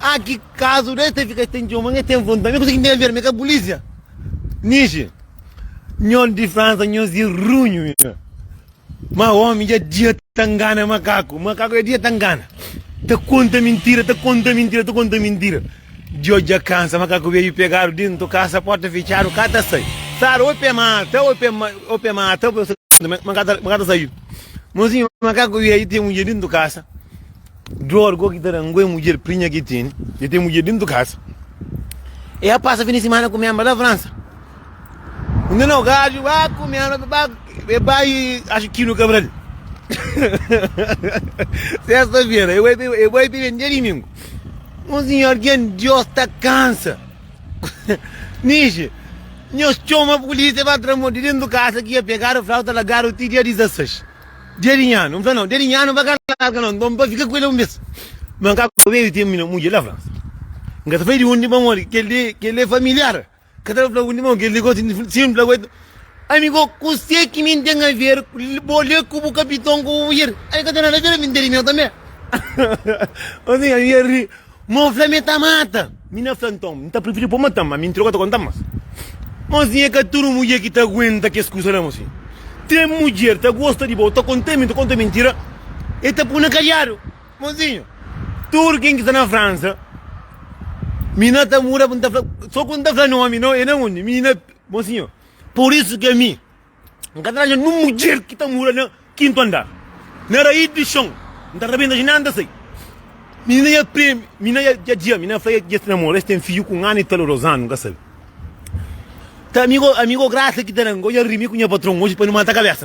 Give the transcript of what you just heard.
Ah ki kazu de ta fika ten djoma nha ten vonta mi kuzeki ndever mi ka polisia niji nhon di fransa nhos di runhu nha ma omi dja dia ta ngana makaku makaku dja dia ta ngana ta konta mintira ta konta mintira ta konta mintira djo dja kansa makaku veju pegadu dintu kasa porta fitxadu ka ta sai sara oi pe mata oi pe oi pe mata oi pe mata ma ka ta saiu mozinhu makaku veju ten munje dintu kasa Dor go ki ta da ngoi mudjer prinha ki tini de ten mudjer dentu kasa. E a pasa fin di simana ku Mianba na Fransa. Un dia nau gaju ba ku Mianba be ba be ba i acha Kino Kabral. Sesta fera e bai pe e bai pe ben dia dimingu. Un sinhor gen Dios ta kansa. Nishi, nhos txoma pulisia ba tra-mo di dentu kasa ki ya pegadu flauta lagadu ti dia 16. Dia di nha nu, n fla, Nau, dia di nha nu ba ka larga nau, ba ba fika ku el un bes. Ma n ka ku el tenpu di nha mudjer la fla, N ka ta fla di undi ba mori, kel li kel li é familiar, n ka ta fla undi ba mori, kel li gosi di fla, si n fla ku el, Amigu, kuse ki mi N ten aver bo li ku bu kapiton ku bu mudjer? Ami ka ten nada aver, ami N ten di meu tanbe. Osi nha mudjer ri. Mo fla mi e ta mata. Mi na fla nton, mi ta prifiri po mata-m, ma mi interior ka ta konta-m mas. Mozinha e ka tudu mudjer ki ta aguenta kes kusa la mozinha. Ten mudjer ta gosta di bo, o ta konta mi, ta konta mintira, e ta pui na kadiadu. Mozinha, tudu ken ki sta na Fransa, mi na ta muda, mi ta fla, so ku mi ta fla nomi, no e na undi, mi na, mozinha, pur isu ki ami. N ka ta atxa nen un mudjer ki ta mora na kintu andar. Na rais di xon, N ta rabenta jinda, N ta sai. Minina dja prende, minina dja dja dja minina fla dja es namora, es ten fidju ku un anu i talu, Rosana, N ka sabe. Ta amigo, amigo Grasa ki ta da-m, N ka odja rimi ku nha patron oji pa nu mata kabesa.